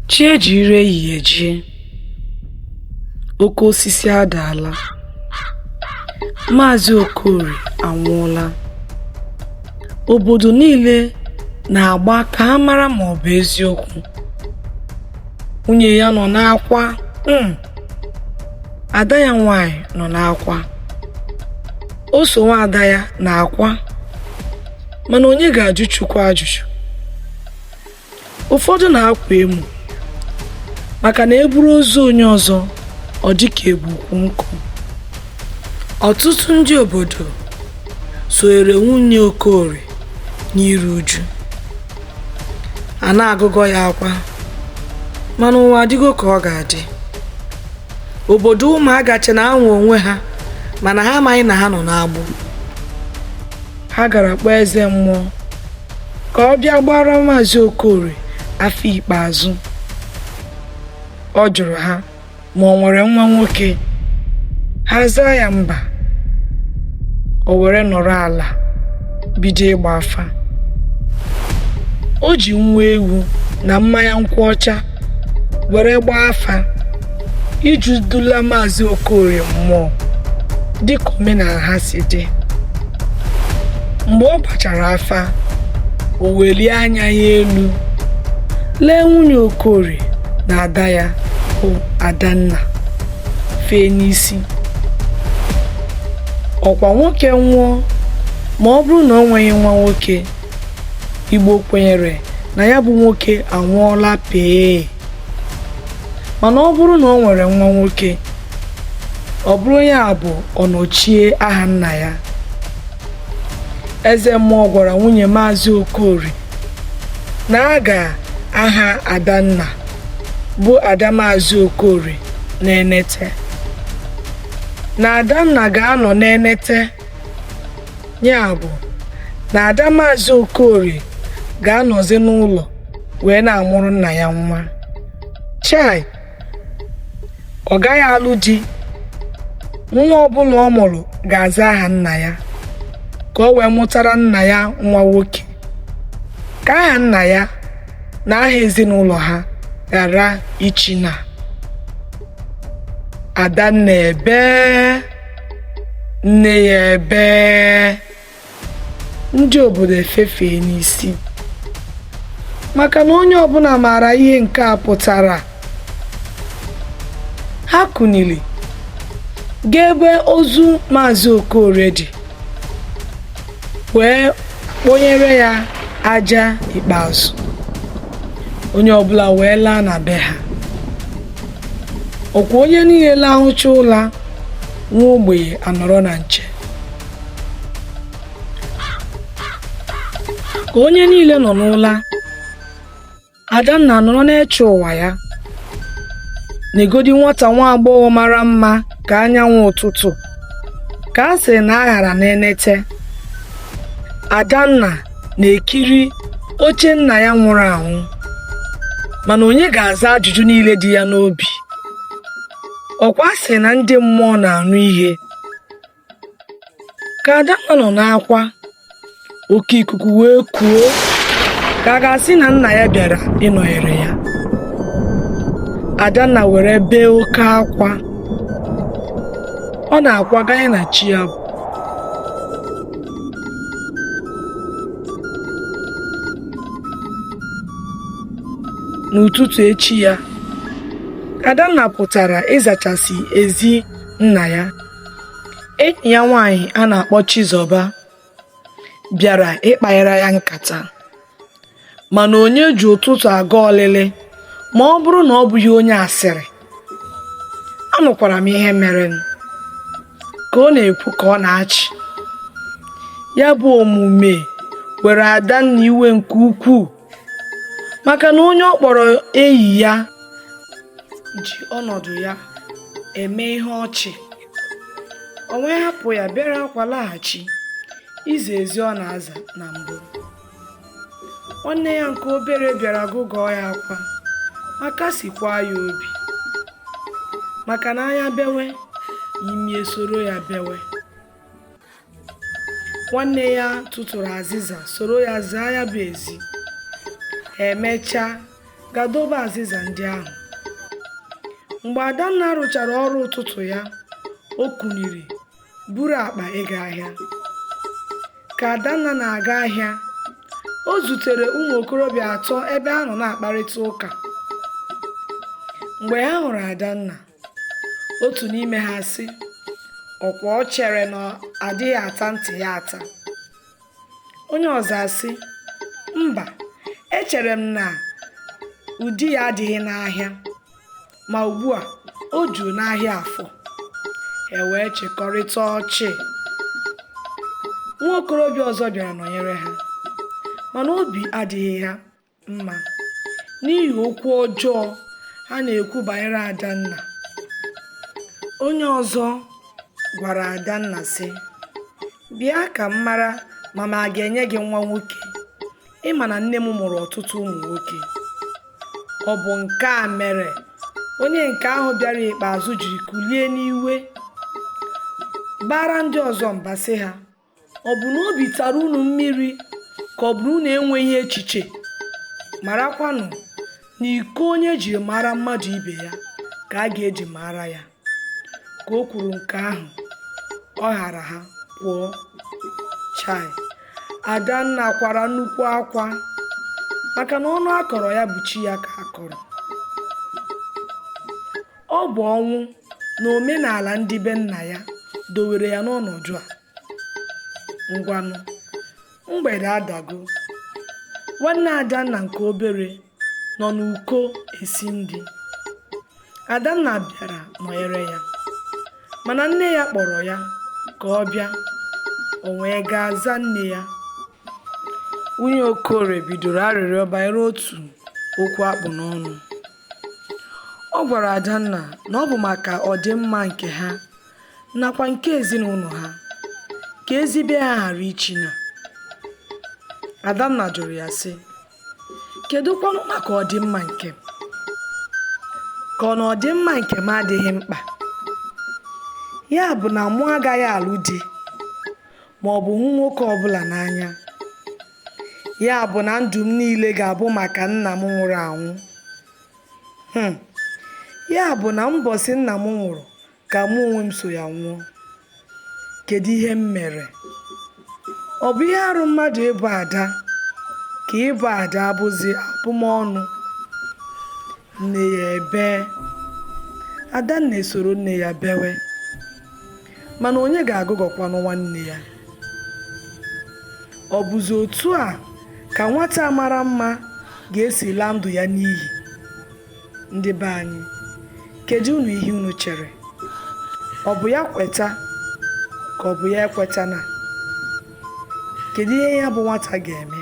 Chi ejiri ehihie jie, oke osisi adaala, Maazị Okorie anwụọla. Obodo niile na-agba ka ha mara ma ọ bụ eziokwu. Nwunye ya nọ n'akwa. ada ya nwaanyị nọ n'akwa o so nwa ada ya n'akwa mana onye ga-ajụ Chukwu ajụjụ ụfọdụ na-akwa emu maka na e buru ozu onye ọzọ ọ dị ka e bu ukwu nkụ ọtụtụ ndị obodo soere nwunye Okorie n'iru uju a na-agụgọ ya akwa mana ụwa adịgo ka ọ ga-adị obodo ụmụaga che na ha nwe onwe ha mana ha amaghị na ha nọ n'agbụ ha gara kpọọ eze mmụọ ka ọ bịa gbaara maazị okorie afa ikpeazụ ọ jụrụ ha ma o nwere nwa nwoke ha zaa ya mba o were nọrọ ala bido ịgba afa o ji nwa ewu na mmanya nkwụ ọcha were gbaa afa iji dula maazị okorie mmụọ dịka omenala ha si dị mgbe ọ gbachara afa o welie anya ya elu lee nwunye okorie na ada ya bụ adanna fee n'isi ọkwa nwoke nwụọ ma ọ bụrụ na o nweghị nwa nwoke igbo kwenyere na ya bụ nwoke anwụọla pee mana ọ bụrụ na o nwere nwa nwoke ọ bụrụ ya bụ ọnọchie aha nna ya eze mmụọ gwara nwunye maazị okorie na a ga-aha adanna bụ ada maazị okorie n'enete na adanna ga-anọ n'enete ya bụ na ada maazị okorie ga-anọzi n'ụlọ wee na-amụrụ nna ya nwa chai ọ gaghị alụ di nwa ọbụla ọ mụrụ ga-aza aha nna ya ka o wee mụtara nna ya nwa nwoke ka aha nna ya na aha ezinụlọ ha ghara ichi na adanna ebee nne ya ebee ndị obodo efefee n'isi maka na onye ọbụla maara ihe nke a pụtara ha kunili gaa ebe ozu maazị okorie dị wee kponyere ya aja ikpeazụ onye ọbụla wee laa na be ha ọkwa onye niile lahụcha ụla nwa ogbenye anọrọ na nche ka onye niile nọ n'ụla Adanna nọrọ na-eche ụwa ya negodi nwata nwa agbọghọ mara mma ka anyanwụ ụtụtụ ka a sị na aghara na-enete Adanna na-ekiri oche nna ya nwụrụ anwụ mana onye ga-aza ajụjụ niile dị ya n'obi ọkwa a sị na ndị mmụọ na-anụ ihe ka Adanna nọ n'akwa oke ikuku wee kuo ka a ga-asị na nna ya bịara ịnọnyere ya Adanna were bee oke akwa ọ na-akwa ganye na chi abọọ n'ụtụtụ echi ya Adanna pụtara ịzachasị ezi nna ya enyi ya nwaanyị a na-akpọ Chizọba bịara ịkpanyere ya nkata mana onye ji ụtụtụ aga ọlịlị ma ọ bụrụ na ọ bụghị onye asịrị anụkwara m ihe mere ka ọ na-ekwu ka ọ na-achị ya bụ omume were adanna iwe nke ukwuu maka na onye ọ kpọrọ enyi ya ji ọnọdụ ya eme ihe ọchị o wee hapụ ya bịara akwa laghachi ịza ezi ọ na-aza na mbụ nwanne ya nke obere bịara gụgụọ ya akwa ma kasikwa ya obi maka na anya bewe imi esoro ya bewe nwanne ya tụtụrụ azịza soro ya zaa ya bụ ezi emechaa gaa dobe azịza ndị ahụ mgbe adanna rụchara ọrụ ụtụtụ ya o kuniri buru akpa ịga ahịa ka adanna na-aga ahịa o zutere ụmụ okorobịa atọ ebe ha nọ na-akparịta ụka mgbe ha hụrụ adanna otu n'ime ha sị ọ kwa o chere na adịghị ata ntị ya ata onye ọzọ asị mba echere m na ụdị ya adịghị n'ahịa ma ugbu a o juru n'ahịa afọ e wee chịkọrịta ọchị nwa okorobịa ọzọ bịara nọnyere ha mana obi adịghị ha mma n'ihi okwu ọjọọ ha na-ekwu banyere Adanna. Onye ọzọ gwara Adanna sị, Bịa ka m mara ma m aga-enye gị nwa nwoke. Ị ma na nne m mụrụ ọtụtụ ụmụ nwoke. Ọ bụ nke a mere onye nke ahụ bịara ikpeazụ jiri kulie n'iwe baara ndị ọzọ mba sị ha, Ọ bụ na obi tara unu mmiri ka ọ bụ na unu enweghị echiche? Marakwanụ na iko onye ji maara mmadụ ibe ya ka a ga-eji maara ya. Ka o kwuru nke ahụ, ọ ghara ha pụọ. Chai! Adanna kwara nnukwu akwa maka na ọnụ a kọrọ ya bụ chi ya ka a kọrọ. Ọ bụ ọnwụ na omenala ndị be nna ya dowere ya n'ọnọdụ a. Ngwanụ, mgbede adago. Nwanne Adanna nke obere nọ n'uko esi nri. Adanna bịara nọnyere ya. Mana nne ya kpọrọ ya ka ọ bịa. O wee gaa zaa nne ya. Nwunye Okorie bidoro arịrịọ banyere otu okwu a kpụ n'ọnụ. Ọ gwara Adanna na ọ bụ maka ọdịmma nke ha nakwa nke ezinụlọ ha ka ezi be ha ghara ichina. Adanna jụrụ ya sị, kedụ kwanụ maka ọdịmma nke m? Ka ọ na ọdịmma nke m adịghị mkpa? Ya bụ na mụ agaghị alụ di ma ọ bụ hụ nwoke ọbụla n'anya? ya bụ na ndụ m niile ga-abụ maka nna m nwụrụ anwụ Hmm. ya bụ na mbọsị nna m nwụrụ ka mụ onwe m so ya nwụọ kedu ihe m mere ọ bụ ihe arụ mmadụ ịbụ ada ka ịbụ ada abụzi abụmọnụ nne ya ebee adanna esoro nne ya bewe mana onye ga-agụgọkwanụ nwanne ya ọ bụzi otu a ka nwata a mara mma ga-esi laa ndụ ya n'iyi ndị be anyị kedu unu ihe unu chere ọ bụ ya kweta ka ọ bụ ya ekwetana kedu ihe ya bụ nwata ga-eme